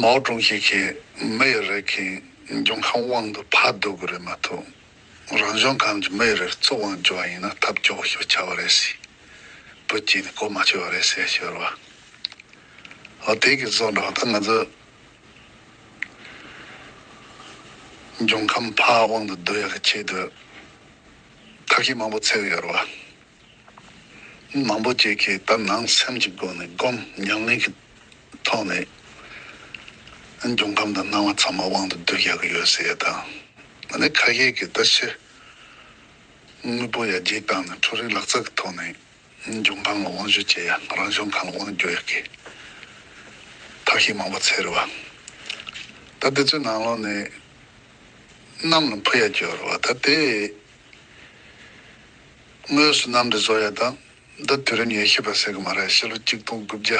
མའོ་ཀྲུང་ཞི་གིས་མི་ཡི་རིགས་ཀྱི་འབྱུང་ཁམས་དབང་དུ་ཕར་བསྡུ་དགོས་རེད་མ་གཏོགས་རང་བྱུང་ཁམས་ཀྱི་མི་ཡི་རིགས་གཙོ་དབང་བསྒྱུར་བ་ཡིན་ན་ཐབས་སྐྱོ་བོ་ཞིག་ཆགས་པ་རེད་ཟེར། པུ་ཅིན་ནས་གོ་མ་ཆོད་པ་རེད་ཟེར་ཞོར་བ། ཨོ་དེ་གི་བཟོ་འདྲ་བ་ད་ང་ཚོས་འབྱུང་ཁམས་ཕར་དབང་དུ་བསྡུ་ཡག་གི་ཆེད་དུ་ཐབས་ཤེས་མང་པོ་འཚོལ་གི་ཡོད་རེད་བ། མང་པོ་བཅས་ཀྱིས་ལྟར་སྣང་སེམས་ཀྱི་སྒོ་ནས་བསྒོམ་ཉམས་ལེན་གྱི་ཐོག་ནས་འབྱུང་ཁམས་དང་སྣང་བ་ཚང་མ་དབང་དུ་བསྡུ་རྒྱག་གི་ཡོད་ཟེར་ཡ་དང་ནི་ཁ་ཡེ་གི་ལྟ་བཤེར་དངོས་པོ་ཡར་རྒྱས་བཏང་ནས་འཕྲུལ་རིག་ལག་རྩལ་གྱི་ཐོག་ནས་འབྱུང་ཁམས་ལ་དབང་བཞུ་བྱེད་ཡ་རང་བྱུང་ཁམས་ལ་དབང་བསྒྱུར་ཡ་གི་ཐབས་ཤེས་མང་པོ་འཚལ་རེད་བ། ད་དེ་ཚོའི་ནང་ལོགས་ནས་གནམ་ལ་འཕུར་ཡ་གྱུར་བ་ད་དེ། དངོས་སུ་གནམ་འདི་བཟོ་ཡ་དང་འདི་དུས་རིམ་ཡེ་ཤེས་པ་ཟེར་གི་མ་རེད་ཕྱི་ལོ་གཅིག་སྟོང་དགུ་བརྒྱ་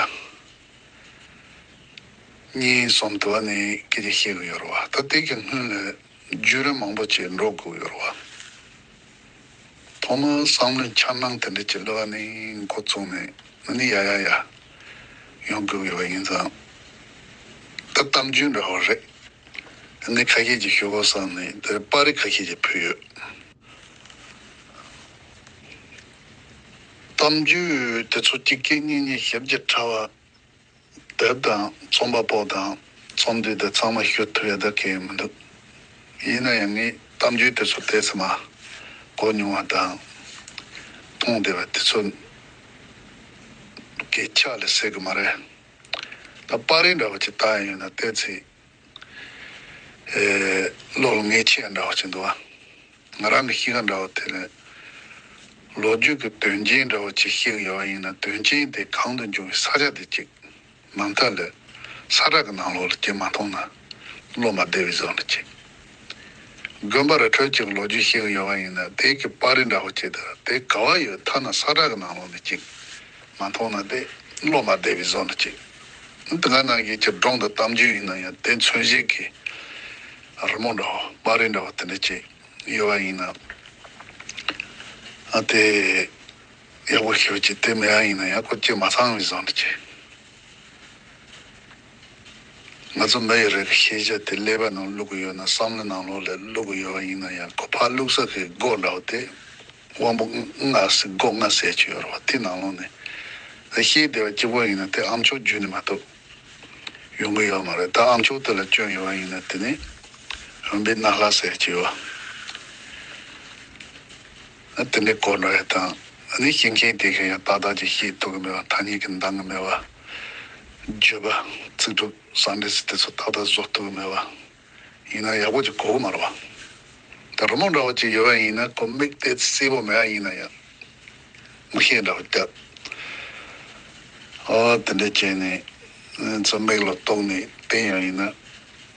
གཉིས་གསུམ་དུ་བ་ནས་སྐད་ཆ་བཤད་གི་ཡོད་རེད་བ་ད་ལྟའི་གི་སྔོན་ལས་རྒྱུས་རིམ་མང་པོ་ཆེ་འགྲོ་དགོས་ཡོད་རེད་བ། ཐོག་མར་བསམ་བློའི་འཆར་སྣང་དེ་འདྲ་ཅིག་གློད་བ་ནས་འགོ་བཙུགས་ནས་མི་ནི་ཡ་ཡ་ཡ་ཡོང་དགོས་ཡོད་བ་ཡིན་ཙང། ད་གཏམ་རྒྱུད་འདྲ་བ་རེད། ནི་ཁ་ཤས་ཀྱིས་ཤོད་གོ་སང་ནི་དེར་དཔར་རིས་ཁ་ཤས་ཀྱིས་ཕུལ་ཡོད། གཏམ་རྒྱུད་དེ་ཚོ་གཅིག་རྐྱེན་གཉིས་གཉིས་ཞིབ་ཀྱིས་ཕྲ་བ། དེབ་དང་རྩོམ་པ་པོ་དང་རྩོམ་དུས་དེ་ཚང་མ་ཤོད་ཐུབ་ཡ་ད་གི་མི་འདུག་ཡིན་ན་ཡང་ངས་གཏམ་རྒྱུད་དེ་ཚོ་དེ་ཚེ་མ་གོ་མྱོང་བ་དང། མཐོང་བདེ་བ་དེ་ཚོ་གི་ཕྱག་ལས་སེལ་གི་མ་རེད། ད་པར་རིས་འདྲ་བ་ཅིག་བཏགས་ཡོད་ན་བལྟས་ཚེ། བློ་ལ་ངེས་ཆེ་ཡང་འདྲ་བ་ཅིག་འདུག་ཨ། ང་རང་གི་གཤིས་ཀ་འདྲ་བ་དེ་ལས། ལོ་རྒྱུས་ཀྱི་དོན་རྐྱེན་འདྲ་བ་ཅིག་ཤེས་གི་ཡོད་པ་ཡིན་ན་དོན་རྐྱེན་དེ་གང་དུ་འབྱུང་བའི་ས་ཆ་དེ་གཅིག་མ་མཐའ་ལས་ས་བསྒྲགས་ཀྱི་ནང་ལོགས་ལ་སྐྱེལ་མ་མཐོང་ན། སློབ་མ་སྡེ་བའི་གཟུགས་ལ་བྱེད། དགོན་པ་རི་ཁྲོད་ཅིག་ལོ་རྒྱུས་ཤིག་ཡོད་པ་ཡིན་ན་དེ་གི་པར་རིས་འདྲ་བོ་བྱས་ཏེ་དེ་ག་བ་ཡོད་ཐ་ན་ས་བཀྲ་གི་ནང་ལོག་ནས་ཅིག་མ་མཐོང་ན་དེ་སློབ་མ་སྡེ་བའི་གཟུགས་ལ་བྱེད། འདི་ག་ནང་གི་ཁྱི་སྒྲོང་དང་གཏམ་རྒྱུད་ཡིན་ན་ཡང་དེ་མཚོན་བྱེད་ཀྱི་རི་མོ་འདྲ་བོ་པར་རིས་འདྲ་བོ་དེ་འདྲ་བྱས་ཡོད་པ་ཡིན་ན་དེ་ཡག་པོ་ཤོད་ཅིག་དེ་མེད་ཡ་ཡིན་ན་ཡང་ཁོ་སྐྱེས་མ་ཚང་བའི་གཟུགས་ལ་བྱེད། ང་ཚོ་མི་ཡི་རེ་བའི་ཤེས་བྱ་དེ་ཀླད་པའི་ནང་བླུག་གི་ཡོད་ན་བསམ་བློའི་ནང་ལོགས་ལས་བླུག་གི་ཡོད་པ་ཡིན་ན་ཡང་ཁོ་ཕག་བླུག་ས་ཁའི་སྒོ་ར་བ་དེ་དབང་པོ་ལྔ་སི་སྒོ་ལྔ་ཟས་ཀྱི་ཡོད་ར་བ་དེ་ནང་ལོགས་ནས་རེ་ཤེས་བདེ་བ་སྐྱིད་པོ་ཡིན་ན་དེ་ཨམ་ཆོག་རྒྱུད་ནས་མ་གཏོགས་ཡོང་གི་ཡོད་མ་རེད་ད་ཨམ་ཆོག་དེ་ལ་སྐྱོན་ཡོད་པ་ཡིན་ན་དེ་ནི་རང་འབི་སྣ་ལྷ་ཟས་ཀྱི་ཡོད། དེ་འདྲའི་གོ་འཕྲོ་ཡོད་དམ། འདི་ཤེས་མཁན་དེ་གཞན་ཡང་ཏག་ཏག་ཅིག་ཤེས་ཐུབ་ཀྱི་མེད་པར་ཐ་སྙད་ཀྱི་འདང་ངེས་མེད་པ། བརྗོད་པ། ཚིག་གྲུབ། ཟང་འབྲེལ་ཚིག་དེ་ཚོ་ཏག་ཏག་བཟོ་ཐུབ་ཀྱི་མེད་པ། ཡིན་ནའང་ཡག་པོ་ཅིག་གོ་གི་མ་རེད་བ། ད་རི་མོ་འདྲ་བོ་ཅིག་ཡོད་པ་ཡིན་ན་ཁོ་མིག་བལྟས་ཚེ་གསལ་པོ་མེད་ཡ་ཡིན་ན་ཡང། མིག་ཤེལ་འདྲ་བོ་བཏབ། ཨོ་དེ་འདྲའི་རྐྱེན་ནི། ཚོ་མིག་ལ་གཏོགས་ནས་བལྟས་ཡ་ཡིན་ན།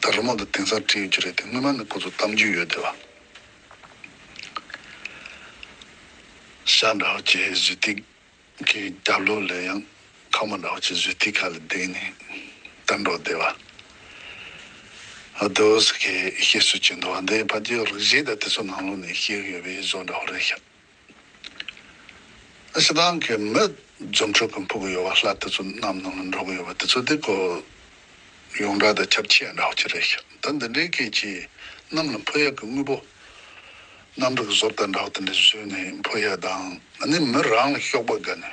ད་རོ་མང་དུ་དེང་སང་བྲིས་ཡོད་ཀྱི་རེད་དེ་སྔོན་མ་ནི་ཁོ་ཚོ་གཏམ་རྒྱུད་ཡོད་དེ་བ། ཤ་འདྲ་བ་ཁྱེད་བཟོས་ཐིག་གི་རྒྱབ་ལོགས་ལས་ཡང་ཁ་མོ་འདྲ་བ་ཁྱེད་བཟོས་ཐིག་ག་ལ་བསྡད་ནས་ལྟ་འགྲོ་བསྡད་བ། ཨདོ་ཟེར་ཁྱེད་ཤེས་བཟོས་ཁྱེད་འདོ་བ་འདི་ཕ་རྒྱའི་རིགས་གཞན་དག་དེ་ཚོ་ནང་ལོགས་ནས་ཤེས་གི་ཡོད་པའི་བཟོ་འདྲ་བ་རེད་ཤག། ཞེ་སྡང་གི་མི་རྫུ་འཕྲུལ་གྱི་འཕུར་གྱི་ཡོལ་བ་ལྷ་དེ་ཚོ་གནམ་ནང་ལ་འགྲོ་གི་ཡོད་པ་དེ་ཚོ་དེ་གོ་ཡོང་འདྲ་དང་ཁྱབ་ཆེ་འདྲ་བ་གཅིག་རེད་ཤག་ད་འདི་འདྲའི་སྐད་ཀྱིས་གནམ་ལ་འཕུར་ཡག་གི་དངོས་པོ་གནམ་རིག་བཟོ་ལྟ་འདྲ་བ་དེ་འདྲ་བཟོས་ནས་འཕུར་ཡག་དང་ནི་མི་རང་ལ་གཤོག་པ་དགའ་ནས།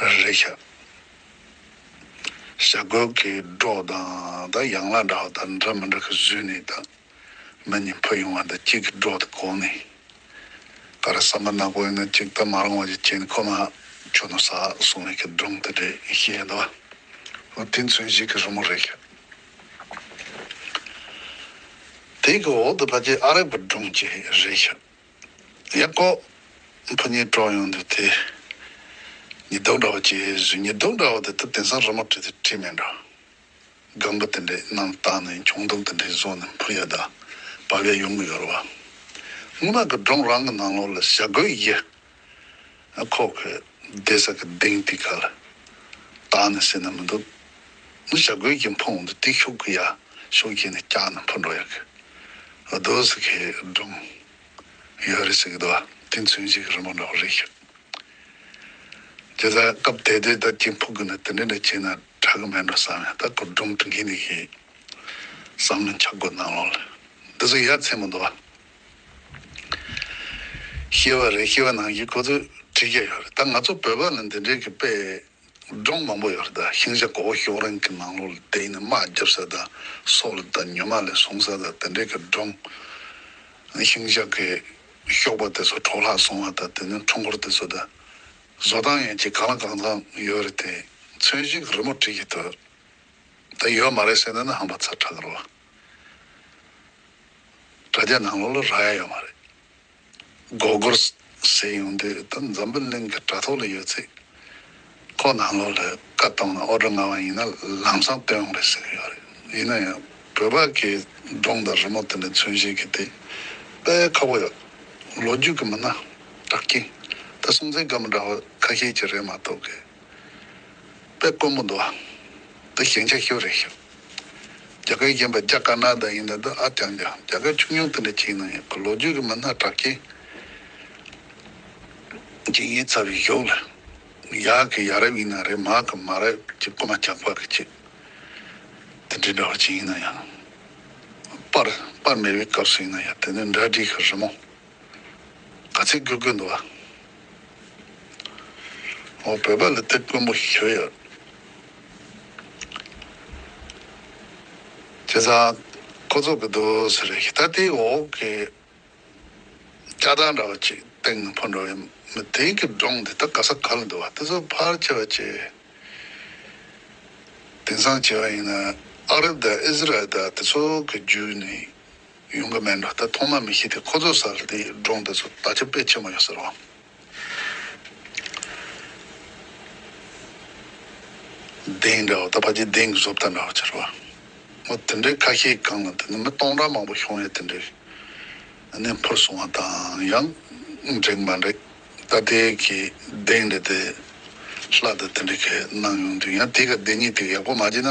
རེད་ཤག། ཞྭ་རྒོད་ཀྱི་སྒྲོག་དང་དང་ཡང་ལ་འདྲ་བ་དང་འདྲ་མི་འདྲ་གི་བཟོས་ནས་དང་མི་གཉིས་འཕུར་ཡོང་བ་དང་གཅིག་གི་སྒྲོག་དེ་གོང་ནས་ག་རེ་ཟ་མ་ནག་པོ་ཡིན་ན་གཅིག་ད་མ་རང་བ་ཅིག་བྱས་ནས་ཁོ་མ་ཁྱོད་ནོར་ཟ་སོང་བས་ཀྱི་སྒྲུང་དེ་འདྲས་ཤེས་ཡོད་དོ། ཨོ་དེ་མཚོན་བྱེད་ཀྱི་རི་མོ་རེད་ཤག། དེ་གི་འོག་ཏུ་ཕ་ཅེ་ཨ་རག་པའི་སྒྲུང་བཅས་རེད་ཤག། ཡག་གོ། ཕོ་ཉའི་གྲོགས་ཡོང་འདུག་དེ། ཉི་ལྡོག་འདྲ་བོ་ཅེས་བཟོས་ཉི་ལྡོག་འདྲ་བོ་དེ་ད་དེང་སང་ར་མོ་བྲིས་ཏེ་བྲིས་མེད་འགྲོ། སྒམ་པོ་དེ་འདྲའི་ནང་བཏགས་ནས་གྱོང་རྡུང་དེ་འདྲའི་བཟོ་ནས་འཕུར་ཡ་ད་བབ་ཡ་ཡོང་གི་ཡོད་རེད་བ། སྔོན་མ་གི་སྒྲོང་རང་གི་ནང་ལོགས་ལ་ཞྭ་གོས་ཡི། ཁོག་གི་སྡེ་སར་གི་དིང་ཏི་ཁ་ལ་བཏགས་ནས་བསྲེས་ན་མི་འདུག་མི་བྱ་རྒོད་ཀྱི་འཕོངས་འདི་ཏིག་ཤོག་གི་ཡ་ཤོག་གྱིས་ནི་བཀྱགས་ནས་འཕུར་འགྲོ་ཡག་གི་འདུག་ཟེར་གི་སྒྲུང་ཡོད་རེད་ཟེར་གི་འདུག་དེ་མཚོན་བྱེད་ཀྱི་རི་མོ་འདྲ་བོ་རེད་ཤག་ཇི་ལྟར་སྐབས་དེ་དུས་ད་ཀྱི་འཕུར་གི་ནི་དེ་འདྲ་འདྲ་བྱས་ན་དྲག་གི་མེད་འགྲོ་བསམ་ཡང་ད་ཁོ་སྒྲུང་བྲི་མཁན་དེ་ཤེས་བསམ་ནས་འཆར་སྒོ་གནང་ལོང་ལ་འདི་ཚོ་ཡ་མཚན་མོ་འདུག། ཤེས་པ་རེད་ཤེས་པ་ནང་བཞིན་ཁོ་ཚོས་བྲིས་ཀྱི་ཡོད་རེད་ད་ང་ཚོ་བོད་པ་ལ་འདི་འདྲའི་གི་དཔེ་སྒྲོམ་མང་པོ་ཡོད་རེད་ད་ཤིང་བྱ་གོ་བོ་ཤོག་རིང་གི་ནང་ལོགས་ལ་དེ་ཡིན་ན་དམག་རྒྱབ་ས་ད་སོགས་ལ་ད་ཉི་མ་ལས་བཟུང་ས་ད་དེ་འདྲའི་གི་སྒྲོམ་ཤིང་བྱ་གི་ཤོག་པ་དེ་ཚོ་འཕྲོག་ལྷག་སོང་བ་ད་དེ་ནས་འཕྲོ་འཁོར་དེ་ཚོ་ད་བཟོ་སྟངས་ཡིན་གྱི་གང་ལ་གང་ཙམ་ཡོད་རེད་དེ་ཚོན་བཞིན་གི་རི་མོ་བྲིས་ཀྱི་འདུག་ད་ཡོད་མ་རེད་ཟེར་ན་ནི་ཧམ་པ་ཚ་དྲག་གི་རེད་བ། དྲ་རྒྱ་ནང་ལོག་ལ་རག་ཡ་ཡོད་མ་རེད། མགོ་སྒོར་ཟེར་ཡོང་དུས་ད་འཛམ་བུ་གླིང་གི་དྲ་ཐོག་ལ་ཡོད་ཚད་ཁོག་ནང་ལོག་ལ་བཀའ་གཏོང་ན་ཨོ་སྒྲོ་ང་བ་ཡིན་ན་ལམ་སང་བཏོན་ཡོང་རེད་ཟེར་གི་ཡོད་རེད་ཡིན་ན་ཡང་བོད་པ་གི་སྒྲུང་དང་རི་མོ་དེ་འདྲ་མཚོན་བྱེད་ཀྱི་དེ་དཔེ་ཁ་པོ་ཡོད་ལོ་རྒྱུས་ཀྱི་མི་སྣ་གྲགས་རྐྱེན་ད་སྲོང་བཙན་སྒམ་པོ་འདྲ་བ་ཁ་ཤས་ཀྱི་རེད་མ་གཏོགས་གི་དཔེ་དཀོན་པོ་འདུག་ཨ་འདི་ཞན་ཆ་ཤོས་རེད་ཤོད། རྒྱ་གར་གཞན་པ་རྒྱ་དཀར་ནག་དང་ཡིན་ནའི་དོ་ཨ་ཀྱང་ཀྱང་རྒྱ་གར་ཆུང་ཆུང་དེ་འདྲ་གཅིག་ནང་ཡང་གི་ལོ་རྒྱུས་ཀྱི་མི་སྣ་གྲགས་ཅན་གཅིག་ཡིན་ཚར་བའི་ཞོག་ལ། ཡག་གི་ཡག་རབས་ཡིན་ན་རེད་མག་གི་མག་རབས་ཀྱི་རྐུ་མ་ཇག་པ་གི་ཆེད་དེ་འདྲའི་འདྲ་བ་ཅིག་ཡིན་ན་ཡང། དཔར་དཔར་མེད་པའི་སྐབས་སུ་ཡིན་ན་ཡང་དེ་འདྲའི་འདྲ་བྲིས་ཤིག་རི་མོ། ག་ཚད་དགོས་དགོས་འདུག་ཨ། ཨོ་བོད་པ་ལ་དེབ་དཀོན་པོ་ཞིག་ཞུས་ཡོད། བྱས་ཙང་ཁོ་ཚོ་གི་དུ་སེར་རེ་ཞིག་ད་ལྟའི་འོག་གི་ལྕགས་ཐང་འདྲ་བ་ཅིག་སྟེང་ནས་འཕུར་འགྲོ་བའི་མི་དེ་གི་སྒྲུང་དེ་ད་ག་ས་ག་ལ་འདུག་ཨ་དེ་ཚོ་ཕར་ཆེ་བ་ཆེ། དེང་སང་བྱས་པ་ཡིན་ན་ཨ་རབ་དང་ཨིས་ར་ཨེལ་དང་དེ་ཚོ་གི་རྒྱུད་ནི། ཡོང་གི་མེད་འགྲོ་ད་ཐོག་མ་མི་ཤེས་ཏེ་ཁོ་ཚོ་ས་ལ་དེ་སྒྲོག་འདི་ཚོ་ད་ཆ་དཔེ་ཆེན་མོ་ཡོད་ཟེར་བ། གདེང་འདྲ་བོ་ད་ཕ་གྱི་གདེང་གི་བཟོ་ལྟ་འདྲ་བོ་ཅེར་བ། མོ་དེ་འདྲའི་ཁ་ཤས་གང་ལ་དེ་ནི་མི་སྟོང་ཕྲག་མང་པོ་ཤོང་ཡས་དེ་འདྲའི་གནས་འཕུར་སོང་བ་དང་ཡང་འགྲིག་མ་འགྲིག་ད་ལྟའི་གི་གདེང་འདྲ་དེ་ལྷ་དང་དེ་འདྲའི་གི་གནང་ཡོང་དུས་ཡང་དེ་ག་གདེང་ངེས་དེ་ཡག་པོ་མ་བྱས་ན།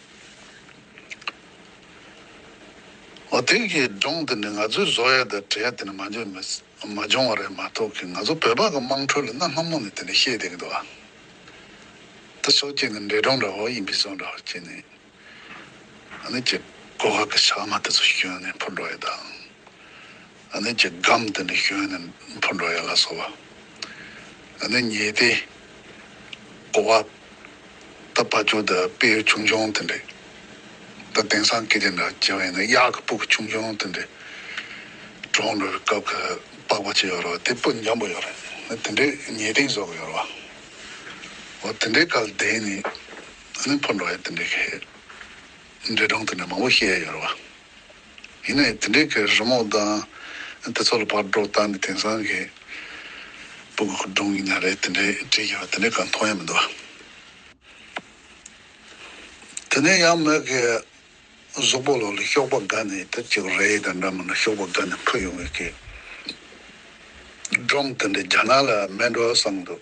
འོ་དེ་གའི་སྒྲུང་དེ་ནི་ང་ཚོའི་བཟོ་ཡ་དང་བྲལ་ཡ་དེ་ནི་མ་འཇོན་མི་མ་འཇོན་བ་རེད་མ་གཏོགས་ཀི་ང་ཚོ་བོད་པ་གི་དམངས་ཁྲོད་ལ་གནའ་སྔ་མོ་ནས་དེ་ནི་བཤད་བསྡད་གི་འདུག་ཨ། དེ་སོགས་ཀྱི་ནི་འདྲེ་སྒྲུང་འདྲ་བོ་ཡིན་པའི་བཟོ་འདྲ་བོ་ཀྱི་ནི། ཨ་ནི་ཀྱི་གོ་ཁ་གི་ཕྱག་མ་དེ་ཚོ་ཞིག་གྱོན་ནས་འཕུར་འགྲོ་ཡ་དང། ཨ་ནི་ཀྱི་སྒམ་དེ་ནས་ཞོན་ནས་འཕུར་འགྲོ་ཡ་ལ་སོ་བ་ཨ་ནི་ཉེས་ཏེ། ཀོ་བ་ད་བ་ཅོ་ད་པེ་ཡོ་ཆུང་ཆུང་དེ་འདྲེ། ད་དེང་སང་ཀི་དེ་འདྲ་ཅེ་བ་ཡིན་ན་གཡག་གི་སྤུ་གི་ཆུང་ཆུང་དེ་འདྲེ། གྲོང་འགྲོ་བའི་སྐབས་ཁ་པགས་པ་ཅི་ཡོ་རོ་དེ་སྤུ་འཇམ་པོ་ཡོ་རེ་ད་དེ་འདྲེ་ཉེས་ཏིང་བཟོ་གི་ཡོ་རོ་བ། འོ་དེ་འདྲེ་ག་ལ་དེ་ནས་ཨ་ནི་འཕུར་འགྲོ་ཡ་དེ་འདྲེ་ཁའི་འདྲེ་གྲོང་དེ་འདྲེ་མང་པོ་ཤེས་ཡ་ཡོ་རེ་བ། ཡིན་ནའི་དེ་འདྲའི་གི་རི་མོ་དང་དེ་ཚོ་ལ་བག་སྒྲོག་བཏང་ནས་དེང་སང་གི་སྤུ་གུ་སྒྲོན་ཡིན་ན་རེད་དེ་འདྲའི་བྲིས་ཡོད་པ་དེ་འདྲའི་ག་མཐོང་ཡ་མི་འདུག་དེ་ནས་ཡང་མོས་གི་གཟུགས་པོ་ལོ་ལ་ཤོག་པ་དགའ་ནས་དེ་བྱས་གི་རེད་དེ་འདྲ་མིན་ན་ཤོག་པ་དགའ་ནས་འཕུར་ཡོང་བའི་གི་སྒྲོམ་དེ་འདྲ་རྒྱ་ནག་ལ་མེད་འགྲོ་བསམ་གི་འདུག།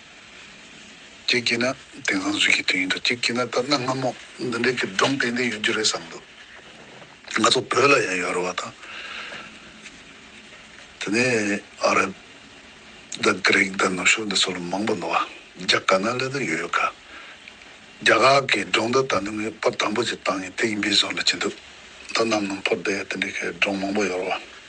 གཅིག་བགྱིས་ན་དེང་སང་གཟུགས་ཀྱི་དུས་ཡིན་འདུག་གཅིག་བགྱིས་ན་ལྟར་སྣང་སྔ་མོ་འདི་འདྲའི་གི་སྒྲུང་ཏན་ཏན་ཡོད་རྒྱུ་རེད་བསམ་འདུག་ང་ཚོ་བོད་ལ་ཡང་ཡོད་རེད་བ་དང། དེ་ནས་ཨ་རབ་དང་ཀི་རིག་དང་ནུབ་ཕྱོགས་འདི་ཚོ་ལ་མང་པོ་འདུག་བ་རྒྱ་དཀར་ནག་ལས་དང་ཡོད་ཡོད་ག། རྒྱ་གར་གི་སྒྲུང་ད་ད་ནི་ངའི་དཔར་དང་པོ་ཅིག་བཏང་ཡིན་དེ་ཡིན་པའི་བཟོ་ལ་བྱེད་འདུག་ད་ནམ་ནམ་ཕོར་དེ་དེ་འདྲའི་གི་སྒྲུང་མང་པོ་ཡོད་རེད་བ།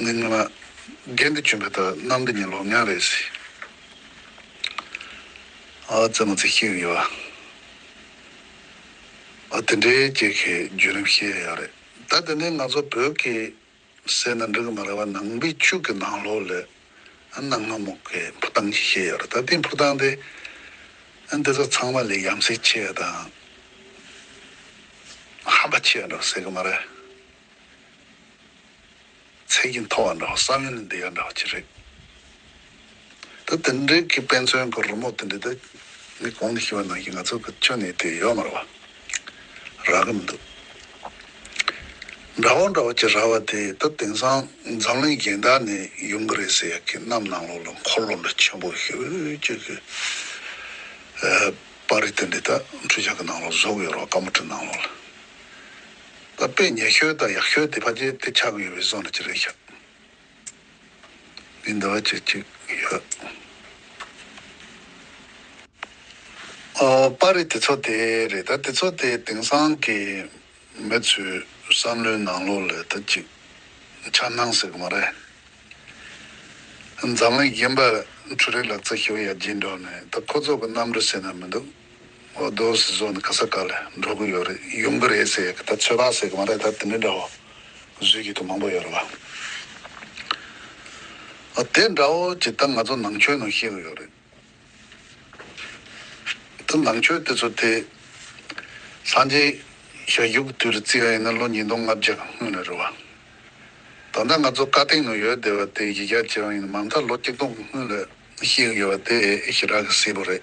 ནས་ཉོས་ན། རྒན་དེ་གྱོན་པའི་ད་གནམ་དེ་ཉིན་ལོ་ལྔ་རེད་ཟེར། ཨ་ཙེ་མོ་ཙེ་ཤེས་གི་ཡོད། ཨ་དེ་འདྲའི་སྐྱེས་ཁའི་བརྒྱུད་རིམ་ཤེས་ཡ་ཡག་རེད། ད་དེ་ནས་ང་ཚོ་བོད་ཀྱི་སེར་སྣ་འབྲི་གི་མ་རེད་བ་ནང་པའི་ཕྱུགས་ཀྱི་ནང་ལོགས་ལས་ཨ་ནང་མ་མོག་གི་འཕུར་སྟངས་ཤིག་ཤེས་ཡ་རེད་ད་དེའི་འཕུར་སྟངས་དེ་ཨ་འདི་ཚོ་ཚང་མ་ལས་ཡམ་སྲས་ཆེ་ཡ་དང་ཧམ་པ་ཆེ་ཡ་འདྲ་བ་ཟེར་གི་མ་རེད། ཚད་ཀྱིས་མཐོ་བ་འདྲ་བ་ས་གནས་ནས་འདི་ག་འདྲ་བ་ཅི་རེད། ད་དེ་འདྲའི་གི་དཔེ་མཚོན་གི་རི་མོ་དེ་འདྲའི་ད་མི་གོང་ནས་ཤི་བ་ནང་གི་ང་ཚོ་གི་ཆུ་ནས་དེ་ཡོད་མ་རེད་བ། རག་གི་མི་འདུག། འདྲ་བོ་འདྲ་བོ་ཅི་རག་བ་དེ་ད་དེང་སང་འཛམ་གླིང་གཞན་དག་ནས་ཡོང་གི་རེད་ཟེར་ཡག་གི་གནམ་ནང་ལོག་ལ་འཁོར་ལོ་འདྲ་ཆེན་པོ་ཧེའུ་ཅིག་གི་པར་རིས་དེ་འདྲའི་ད་འཕྲུལ་ཆ་གི་ནང་ལོག་བཟོ་གི་ཡོད་རེད་བ་དཀར་མོ་དྲི་ནང་ལོག་ལ། ལ་དཔེ་ཉེ་ཤོས་དང་ཡག་ཤོས་དེ་ཕ་རྗེས་དེ་ཆགས་ཡོད་པའི་བཟོ་ན་ཅི་རེད་ཤག་འདི་འདི་བ་ཅིག་ཅིག་ཡོད་ཨོ་པ་རེད་དེ་ཚོ་དེ་རེད་ད་དེ་ཚོ་དེ་དེང་སང་གི་མི་ཚོའི་བསམ་བློའི་ནང་ལོག་ལས་ད་ཅིག་ཆགས་སྣང་ཟེར་གི་མ་རེད་འཛམ་གླིང་གཞན་པ་འཕྲུལ་རིག་ལག་རྩལ་ཞུ་ཡག་སྦྱིན་འགྲོག་ནས་ད་ཁོ་ཚོ་གི་རྣམ་འགྲོ་སེ་ན་མི་འདུག། ཨོ་རྡོ་སི་སོགས་ནས་ཁ་ས་ཀ་ལ་འགྲོ་གི་ཡོད་རེད་ཡོང་གི་རེད་ཟེར་གི་ད་ཚོད་དཔག་ཟེར་གི་མ་རེད་ད་དེ་འདྲའི་འདྲ་བོ་བཟོས་ཀྱི་འདུག་མང་པོ་ཡོད་རེད་བ། ཨོ་དེ་འདྲ་བོ་ཇི་ལྟར་ང་ཚོ་ནང་ཆོས་ནང་ཤེས་གི་ཡོད་རེད། ད་ནང་ཆོས་དེ་ཚོ་དེ་སངས་རྒྱས་ཞལ་བཞུགས་གི་དུས་རེ་བརྩི་ཡ་ཡིན་ན་ལོ་ཉིས་སྟོང་ལྔ་བརྒྱ་སྔོན་ལ་རེད་བ། ད་ལྟ་ང་ཚོ་བཀའ་སྟེང་ནང་ཡོད་བསྡད་པ་དེ་ཡི་ག་ཇི་རང་ཡིན་ན་མ་མཐའ་ལོ་གཅིག་སྟོང་སྔོན་ལ་ཞིག་ཡོད་པ་དེ་ཞི་དྲག་གི་སྲས་པོ་རེད།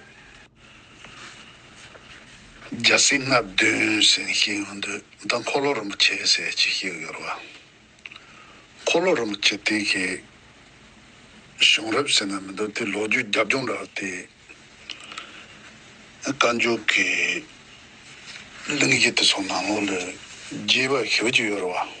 རྒྱལ་སྲས་ལྔ་བདུན་ཟེར་ཞིག་ཡོད་འདུག་ད་འཁོར་ལོ་རིན་པོ་ཆེ་ཟེར་གཅིག་ཞིག་ཡོད་རེད་བ། འཁོར་ལོ་རིན་པོ་ཆེ་དེ་གའི་གཞུང་རབས་ཟེར་ན་མི་འདུག་དེ་ལོ་རྒྱུས་རྒྱབ་ལྗོངས་འདྲ་བ་དེ། བཀའ་འགྱུར་གྱི་གླིང་བཞི་དེ་ཚོ་ནང་ལོགས་ལས་རྒྱས་པ་ཞིག་ཡོད་རེད་བ།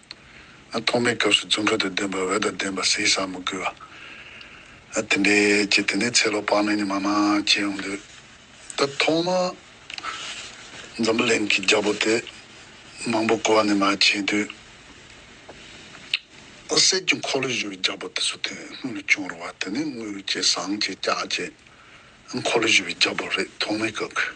ཐོག་མའི་སྐབས་སུ་རྫུན་ཁ་དང་ལྡན་པ་འོད་དང་ལྡན་པ་ཟས་ཟ་མི་དགོས། དེ་འདྲའི་ཀྱི་དེ་ནས་ཚེ་ལོ་དཔག་མེད་ནས་མ་མ་སྐྱེས་འོང་དུས། ད་ཐོག་མ་འཛམ་བུ་གླིང་གི་རྒྱལ་པོ་དེ་མང་པོ་བཀོལ་བ་ནས་མ་སྐྱེས་དུས། གསེར་གྱི་འཁོར་ལོས་བཞུ་བའི་རྒྱལ་པོ་དེ་ཚོ་དེ་སྔོན་ལ་བྱུང་རུང་བ་དེ་ནི་དངུལ་གྱི་ཟངས་ཀྱི་ལྕགས་ཀྱི་འཁོར་ལོས་བཞུ་བའི་རྒྱལ་པོ་རེད་ཐོག་མའི་སྐབས་ཀྱི།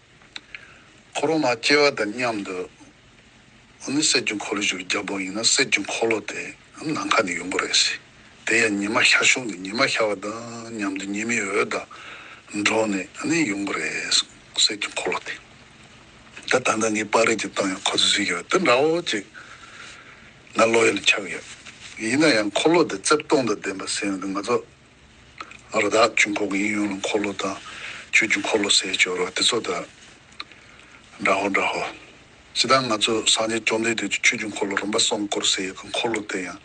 འཁོར་ལོ་མ་སྐྱེ་བ་དང་མཉམ་དུ་འོ་ནི་གསེར་གྱི་འཁོར་ལོ་ཞིག་གི་རྒྱབ་ལོགས་ཡིན་ན་གསེར་གྱི་འཁོར་ལོ་དེ་ནམ་མཁའ་ནས་ཡོང་གི་རེད། དེ་ཡང་ཉི་མ་ཤར་བཞུགས་ནས་ཉི་མ་ཤར་བ་དང་མཉམ་དུ་ཉི་མའི་འོད་དང་འགྲོགས་ནས་འོ་ནི་ཡོང་གི་རེད་གསེར་གྱི་འཁོར་ལོ་དེ། ད་ད་ནངས་ངའི་པར་རིས་ཀྱི་སྟེང་ཡང་ཁོ་ཚོས་གཟིགས་ཀྱི་འདུག་འདྲ་བོ་ཅིག་ང་བློ་ཡུལ་ལ་འཆར་གི་ཡོད། ཡིན་ན་ཡང་འཁོར་ལོ་དེ་རྩེབ་སྟོང་དང་ལྡན་པ་ཟེར་ཡོང་དུས་ང་ཚོ་ཨ་རོ་དག་ཅུང་ཁོག་དབྱིངས་ཡོངས་ལ་འཁོར་ལོ་དང། ཆོས་ཀྱི་འཁོར་ལོ་ཟས་སྤྱོད་རོ་སྟེ་ཚོགས་དག། འདྲ་ཧོ་འདྲ་ཧོ། ཇི་ལྟར་ང་ཚོས་སངས་རྒྱས་བཅོམ་ལྡན་འདས་ཀྱི་ཆོས་ཀྱི་འཁོར་ལོ་རིམ་པ་གསུམ་བསྐོར་ཟས་ཀྱི་འཁོར་ལོ་སྟེ་ཡང་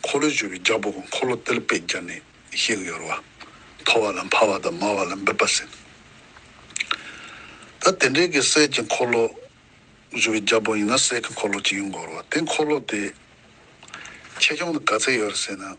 འཁོར་ལོའི་སྦྱོར་བའི་རྒྱ་སྦུག་གི་འཁོར་ལོ་ཏིལ་པད་སྦྱར་ནས་བཤད་ཀྱི་ཡོད་རེད་བ། མཐོ་བ་ལ་འཕར་བ་དང་དམའ་བ་ལ་འབེབས་པ་ཟེར། ད་དེ་འདྲའི་གི་ཟས་ཀྱི་འཁོར་ལོ། སྦྱོར་བའི་རྒྱ་སྦུག་ཡིན་ན་ཟས་ཀྱི་འཁོར་ལོ་གཅིག་ཡོང་དགོས་རེད་བ། དེ་འཁོར་ལོ་དེ། ཆེ་ཆུང་དང་ག་ཚད་ཡོད་རེད་ཟེར་ན།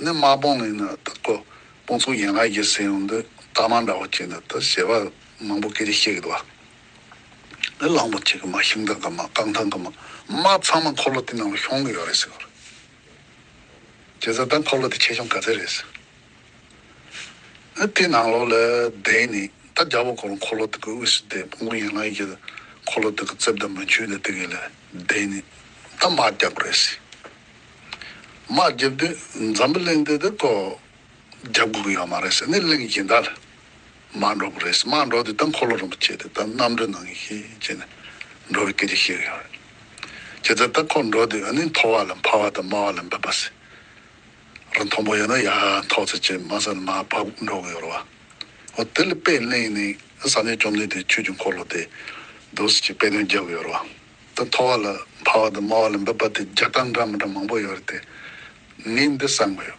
ནི་དམག་དཔུང་ནི་ནི་དང་པོ་དཔུང་ཚོགས་ཡན་ལག་བརྒྱད་སེལ་ཡོང་དུས་རྟགས་མ་འདྲ་བ་གཅིག་ནི་དང་བྱེད་པ་མང་པོ་སྐད་ཅིག་གཅིག་གིས་བརྡོལ་བ། ནི་གླང་པོ་ཆེ་གི་མ་ཤིང་ཐང་གི་མ་རྐང་ཐང་གི་མ་མ་ཚང་མ་འཁོར་ལོ་དེའི་ནང་ལ་ཤོང་གི་ཡོད་རེད་ཟེར་བ་རེད། བྱས་ཙང་ད་འཁོར་ལོ་དེ་ཆེ་ཆུང་ག་ཚད་རེད་ཟེར། དེའི་ནང་ལོགས་ལ་བསྡད་ནས་ད་རྒྱ་བོ་གོར་འཁོར་ལོ་དེ་གི་དབུས་སུ་བསྡད་དཔུང་ཚོགས་ཡན་ལག་བརྒྱད་དང་འཁོར་ལོ་དེ་གི་རྩིབས་དང་མུ་ཁྱུད་དང་དེ་གི་ལ་བསྡད་ནས་ད་དམག་རྒྱག་གི་རེད་ཟེར། མ་བརྒྱབ་དུས་འཛམ་བུ་གླིང་འདི་དེ་ཐོག་བརྒྱབ་དགོས་ཀྱི་ཡོད་མ་རེད་ཟེར་ནས་གླིང་གཞན་དག་ལ་མ་འགྲོ་གི་རེད་ཟེར་མ་འགྲོ་དུས་ད་འཁོར་ལོ་རིན་པོ་ཆེ་དེ་ད་གནམ་གྲུ་ནང་གི་ཤེས་བྱས་ནས་འགྲོ་བའི་སྐད་ཆ་བཤད་ཀྱི་ཡོད་རེད། ཁྱེད་ཚོས་ད་འཁོར་འགྲོ་དུས་འོན་ནི་མཐོ་བ་ལ་འཕར་བ་དང་དམའ་བ་ལ་འབབ་པ་ཟེར་རོ་མཐོ་པོ་ཡོད་ན་ཡར་འཐོག་ཚེ་ཆེ་དམའ་ས་ལ་མར་བབ་འགྲོ་གི་ཡོད་རེད་བ། ཨོ་དེ་ལ་དཔེ་གླིང་ནི་བསམ་ཡས་བཅོམ་ལྡན་འདས་ཆོས་ཀྱི་འཁོར་ལོ་དེ་འདུག་ཟེར་གྱི་དཔེ་དོན་རྒྱབ་ཡོད་རེད་བ། དང་མཐོ་བ་ལ་འཕར་བ་དང་དམའ་བ་ལ་འབབ་པ་དེ་བརྒྱ་སྟང་འདྲ་མི་འདྲ་མང་པོ་ཡོད་རེད་དེ། ངས་འདི་བསམ་གི་ཡོད།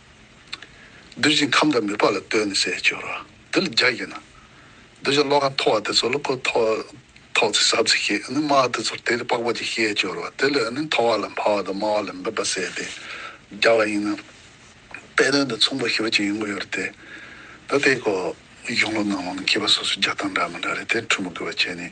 གདུལ་བྱའི་ཁམས་དང་མི་ཕོ་ལ་ལྟོས་ནས་བཤད་ཤོར་བ་དེ་ལ་རྒྱ་བསྐྱེད་ན། གདུལ་བྱ་བློ་ཁ་མཐོ་བ་དེ་ཚོ་ལ་ཁོ་ཐོག་ཐོག་ཚེ་ཟབ་ཚེ་ཤེས་ནི་དམའ་བ་དེ་ཚོར་དེ་ལས་དཔག་པ་ཅིག་བཤད་ཤོར་བ་དེ་ལས་ནི་མཐོ་བ་ལ་འཕར་བ་དང་དམའ་བ་ལ་འབབ་པ་བསལ་ཏེ་རྒྱ་བ་ཡིན་ན། དཔེ་དོན་དང་མཚུངས་པར་ཞུ་བ་ཅིག་ཡོང་གི་ཡོད་རེད་དེ། ད་ལྟའི་གོ། གཞུང་ལུགས་ནང་ལ་ནི་མཁས་པ་སོ་སོའི་རྒྱ་སྟང་འདྲ་མི་འདྲ་རེད་དེ་འཕྲུལ་མི་དགོས་པ་བྱས་ནས།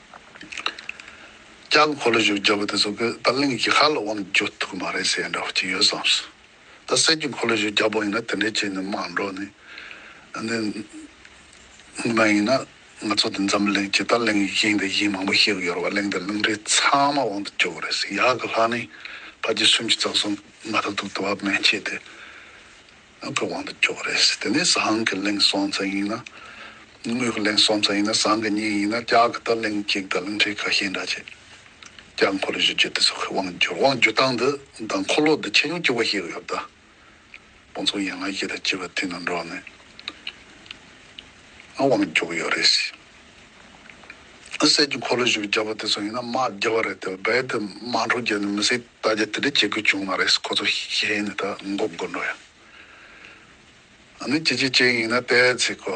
ལྕགས་ཕོ་ལ་བཞུགས་རྒྱག་གི་དེ་ཚོ་གི་ད་གླིང་གི་ཧ་ལ་དབང་འགྱུར་ཐུག་གི་མ་རེད་ཟེར་ཡ་འདྲ་བོ་ཅིག་ཡོད་བསམ་སོང། ད་གསེར་གྱི་འཁོར་ལོ་བཞུགས་རྒྱག་པོ་ཡིན་ན་དེ་འདྲའི་ཆེད་ནས་མ་འགྲོ་ནི། འདི་ངོ་མ་ཡིན་ན་ང་ཚོ་འདི་འཛམ་གླིང་སྤྱི་ད་གླིང་ཡིན་དེ་ཡིན་མང་པོ་ཤེས་གི་ཡོད་རེད་བ་གླིང་འདི་གླིང་རེད་ཚང་མ་དབང་དུ་འགྱུར་གི་རེད་ཟེར་ཡག་གི་ལྷ་ནི་ཕ་རྗེས་སུམ་ཅུ་རྩ་གསུམ་མ་ཐག་ཐུག་དེ་བ་མན་ཆད་དེ། ང་ཚོའི་དབང་དུ་འགྱུར་བ་རེད། དེ་ནས་ཟངས་ཀྱི་གླིང་གསོན་ཚད་ཡིན་ན། དངུལ་གྱི་གླིང་གསོན་ཚད་ཡིན་ན་ཟངས་ཀྱི་གཉིས་ཡིན་ན་སྐྱག་གི་ད་གླིང་གཅིག་ད་གླིང་གཅིག་ཁ་ཤས་འདྲ་བྱས། སྐྱག་འཁོར་ལོ་བཞི་བཅུ་དེ་ཚོ་ཁོས་དབང་བསྒྱུར་དབང་བསྒྱུར་སྟངས་འདི་དང་འཁོར་ལོ་འདི་ཆེ་ཉུང་སྐྱུར་བ་ཞིག་ཡོད་དཱ། དཔོན་ཚོགས་ཡན་ལག་བཞི་དང་བཅས་པ་དེ་ནང་འགྲོ་ནས། ང་དབང་བསྒྱུར་གྱི་ཡོད་རེད། གསེར་གྱི་འཁོར་ལོ་ཞིག་བརྒྱབ་པ་དེ་ཚོ་ཡིན་ན་དམག་བརྒྱ་བ་རེད་དེ་རྦད་དེ་དམག་འཕྲོ་རྒྱག་ནས་མི་སྲིད་ད་རྒྱ་དེ་འདྲ་བྱེད་དགོས་བྱུང་མ་རེད་ཁོ་ཚོ་ཤེས་ནས་ད་འགོག་དགོས་འགྲོ་ཡང་ནི་ཇི་ཇི་བྱེད་ཡིན་ན་ལྟས་ཚིག་གོ་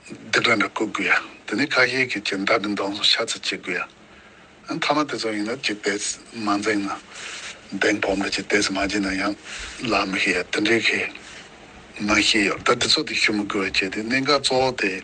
འདི་འདྲ་འདྲ་བཀོད་དགོས་ཡ་དེ་ནི་ཁ་ཤས་ཀྱི་ཀྱི་མདའ་འདི་འདོང་སོང་ཤ་ཚ་བྱེད་དགོས་ཡ་མཐའ་མ་དེ་ཚོ་ཡིན་ན་ཇི་ལྟས་མ་འཛིང་ན་འདེང་བོམ་རེད་ཇི་ལྟས་མ་བྱེད་ན་ཡང་ལ་མི་ཤེས་ཡ་དེ་འདྲའི་ཁེ་མ་ཤེས་ཡོད་ད་དེ་ཚོ་དེ་ཤུ་མི་དགོས་བ་བྱས་དེ་གནད་འགག་གཙོ་བོ་དེ།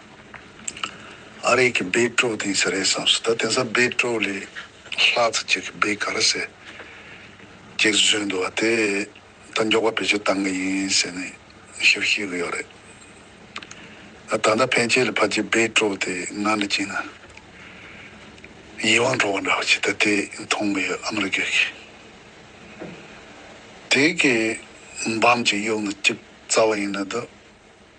ཨ་རིག་གི་སྦེད་ཀྲོའུ་དེ་ཡིན་ས་རེད་བསམས་སོ་ད་དེང་སང་སྦེད་ཀྲོའུ་ལས་ལྷག་ཚ་ཅེག་གི་སྦེད་ག་ར་ཟེར་ཅེག་བཟོས་འདུག་བ་དེ་ད་མགྱོགས་པ་བེད་སྤྱོད་བཏང་གི་ཡིན་ཟེར་ནས་ཞིབ་ཤེས་གི་ཡོད་རེད་ད་ད་ཕན་ཆད་ལ་ཕ་ཅེ་སྦེད་ཀྲོའུ་དེ་ང་ནས་བྱིན་ན་ཡིད་དབང་འཕྲོག་པ་འདྲ་བ་ཅིག་ད་དེ་མཐོང་གི་ཡོད་ཨ་མི་རི་ཀའི་གི་དེ་གི་འབམ་ཅིག་གཡུག་ན་ཅིག་རྩ་བ་ཡིན་ན་ད།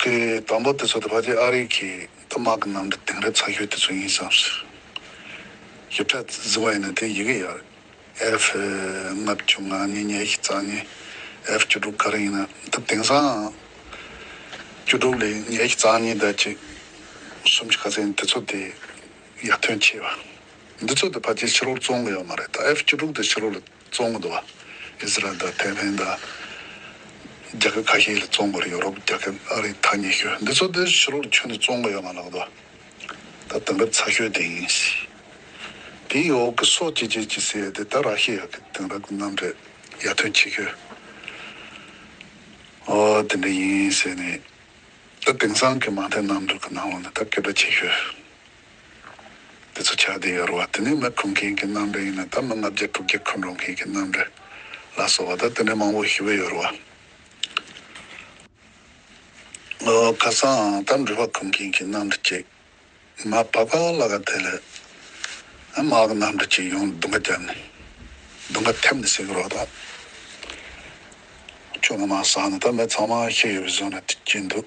དེའི་དང་པོ་དེ་ཚོ་དེ་བར་གྱི་ཨ་རིག་གི་དུ་དམག་གི་ནང་གི་དེང་རབས་ཚགས་ཤོས་དེ་ཚོ་ཡིན་བསམ་སྲིད། ཡིག་ཕྲ་ཟིན་བ་ཡིན་ན་དེའི་ཡི་གེ་ཡག་རེད། F ལྔ་བཅུ་ང་གཉིས་ཉེ་ཤི་རྩ་གཉིས F བཅུ་དྲུག་ག་རེ་ཡིན་ན་ད་དེང་སང་བཅུ་དྲུག་ལས་ཉེ་ཤི་རྩ་གཉིས་ཟླ་གཅིག་གསུམ་བཅུ་ག་ཚད་ཡིན་དེ་ཚོ་དེ་ཡག་དོན་ཆེ་བ། འདི་ཚོ་དེ་བར་གྱི་ཕྱི་ལོར་བཙོང་གི་ཡོད་མ་རེད་ད F བཅུ་དྲུག་དེ་ཕྱི་ལོ་ལ། བཙོང་གི་འདུག་ཨིས་རལ་དང་ཐའེ་ཝན་དང། རྒྱལ་ཁབ་ཁ་ཤས་ལ་བཙོང་དགོས་རེད་ཡོ་རོབ་རྒྱལ་ཁབ་ཨ་རི་ཐ་སྙད་ཤོད་འདི་ཚོ་འདིར་ཕྱི་ལོག་ལ་ཁྱོན་ནས་བཙོང་གི་ཡོད་མ་ལགས་འདུག་ད་དེང་རབས་ཚ་ཤོས་དེ་ཡིན་ཞེས། དེའི་འོག་གི་སོ་སྐྱེ་སྐྱེ་ཅི་སེ་དེ་ད་ར་ཤི་ཡ་གི་དེང་རབས་ཀྱི་རྣམ་འགྲེལ་ཡར་ཐོན་ཁྱི་ཁྱོད། ཨོ་དེ་འདྲ་ཡིན་ཟེར་ནས། ད་དེང་སང་གི་མ་མཐའི་རྣམ་འགྲེལ་གྱི་ནང་ལོག་ནས་ད་སྐད་སྒྲ་ཁྱི་ཁྱོད། དེ་ཚོ་ཆགས་བསྡད་ཡོད་རེད་བ། དེ་ནས་མི་ཁུར་མཁན་གྱི་རྣམ་པས་ཡིན་ན་ད་མི་ལྔ་བརྒྱ་དྲུག་བརྒྱ་ཁུར་འགྲོ་མཁན་གྱི་རྣམ་པས་ལ་སོགས་བ་ད་དེ་ནས་མང་བོ་ཞི་བས་ཡོད་རེད་བ། ཨོ་ཁ་སང་ད་འགྲུལ་བ་ཁུར་མཁན་གྱི་རྣམ་གྲ་ཅིག་མ་བ་པ་ལ་ག་དེ་ལས་དམག་གི་རྣམ་གྲ་ཅིག་ཡོང་དུང་ག་རྒྱབ་ནས་དུང་ག་ཐེབས་ནས་ཟེར་གི་རོགས་ད་ཁྱོད་ང་མ་ཟག་ན་ད་མི་ཚང་མ་ཤི་ཡོད་བའི་བཟོ་ན་གྱིན་འདུག།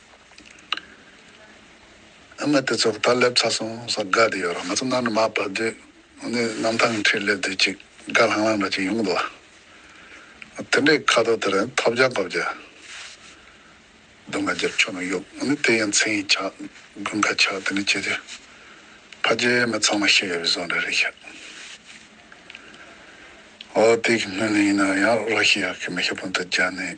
ཨ་མ་དེ་ཚོ་ད་སླེབས་ཚར་སོང་ཟེར་དགའ་བསྡད་ཡོད་ར་ང་ཚོ་གནའ་ནས་མར་བབས་དུས་ནི་གནམ་ཐང་གི་འཁྲིས་སླེབས་དུས་ཅིག་དགའ་ལྷང་ལྷང་འདྲ་ཅིག་ཡོང་འདུག་ཨ་དེ་འདྲའི་ཁ་དོག་དེ་རིང་ཐོབ་རྒྱག་གོ་བརྒྱག་སྡུག་ང་རྒྱབ་ཆོས་ནང་གཡུགས་དེ་ཡང་མཚན་ཡིག་ཆགས་དགུན་ཁ་ཆགས་དེ་ནི་ཁྱེད་ཀྱི་ཕ་རྒྱལ་མི་ཚང་མ་ཤི་ཡོད་པའི་བཟོ་འདྲ་རེད་ཤག་འོ་དེའི་སྔོན་ལ་ཡིན་ན་ཡང་རོ་ཤི་ཡག་གི་མི་ཤི་བོ་འདི་རྒྱ་ནས